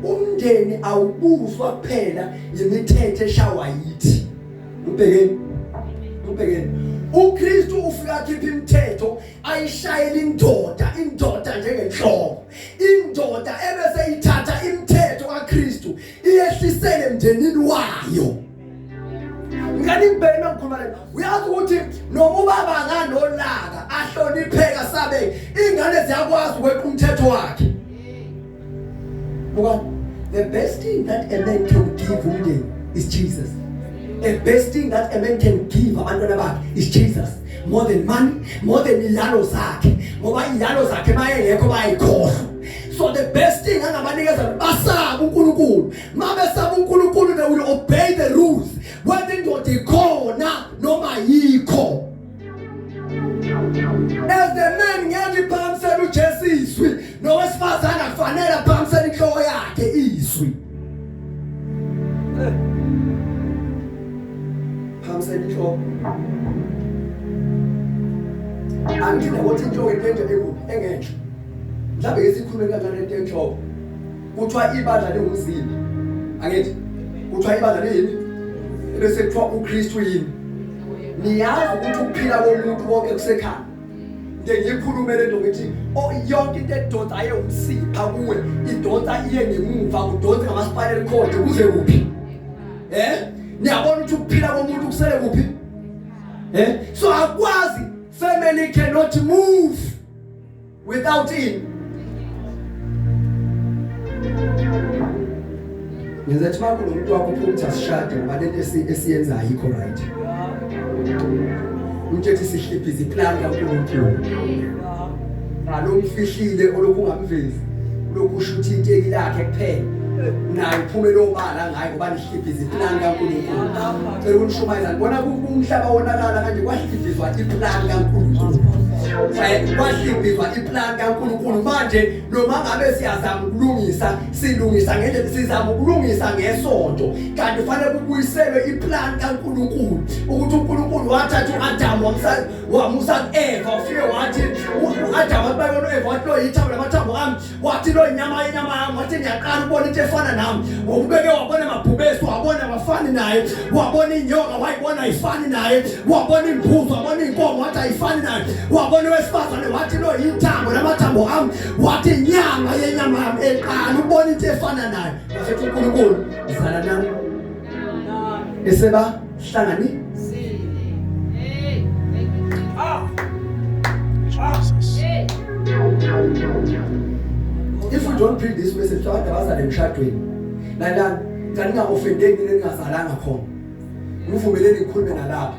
umndeni awubuzwa kuphela yimithetho eshawa yithi ubhekeni ubhekeni uKristu ufika khipha imithetho ayishayela indoda indoda njengenhloko indoda ebese ithatha imithetho kaKristu iyehlisele emndenini wayo nganibheke nokukhumalela uyazi ukuthi noma ubaba nganolaka ahlonipheka sabe ingane ziyakwazi ukweqa umthetho wakhe buka the best thing that a man can give umndeni is Jesus the best thing that a man can give abantwana bakhe is Jesus more than money more than ilalo zakhe ngoba ilalo zakhe bayengekho bayikhohlwa so the best thing angabanikeza basabe uNkulunkulu mabesaba uNkulunkulu they will obey the rules whether indoda ikhona noma yikho as the man ngeke iphambisele uJesu izwi nowesifazane akufanele aphambisele inhloko yakhe izwi phambisele inhloko angina ukuthi inhloko into enje engenhla mhlawumbe ngesikhulumela kanjani into enhloko Kuthiwa ibandla liwumzimba. Angithi kuthiwa ibandla liyini? Bese kuthiwa uKristu yini? Niyazi ukuthi ukuphila komuntu konke kusekhaya. ngiyikhulume le nto ngithi oh, yonke into edonsa aye umsipha kuwe idonsa iye ngemuva kudonse ngamaspinal cord kuze kuphi eh niyabona ukuthi ukuphila komuntu kusele kuphi eh so akwazi family cannot move without in ngenza ukuthi makho nomuntu wakho uphumtha sishade ngoba lento esiyenza ayikho right umthetho sihliphi ziplan kaNkulunkulu ngalomfihlile olokhu ungamvezi lokhu ushuthi inteki lakhe kuphela naye uphume lobala ngaye ngoba Ibhizi iplan kaNkulunkulu. Cela ukushumayela ngibona umhlaba wonakala kanje kwahlibizwa iplan kaNkulunkulu. Kwahlibizwa iplan kaNkulunkulu manje noma ngabe siyazama ukulungisa silungisa ngendlela sizama ukulungisa ngesonto kanti fanele kubuyiselwe iplan kaNkulunkulu ukuthi uNkulunkulu wathatha uAdam wamsa wamusa kuEva ufike wathi uAdam abayona uEva wathi lo yithambo lamathambo ami wathi lo inyama inyama yami wathi ngiyaqala ubona into efana nami ngokubeke wabona amabhubesi wabona wafani naye wabona inyoka wayibona ayifani naye wabona imbuzo wabona inkomo wathi ayifani naye wabona wesifazane wathi lo yithambo lamathambo ami wathi inyama yenyama yami eqala ubona into efana naye wasethi uNkulunkulu zala nami eseba Hlangani. Hey. Ah. Jesus. Hey. If you don't bring this message to abantu abazale emshadweni. Lalani, ngani nga offendeki ningazalanga khona. Ngivumeleni ngikhulume nalapha.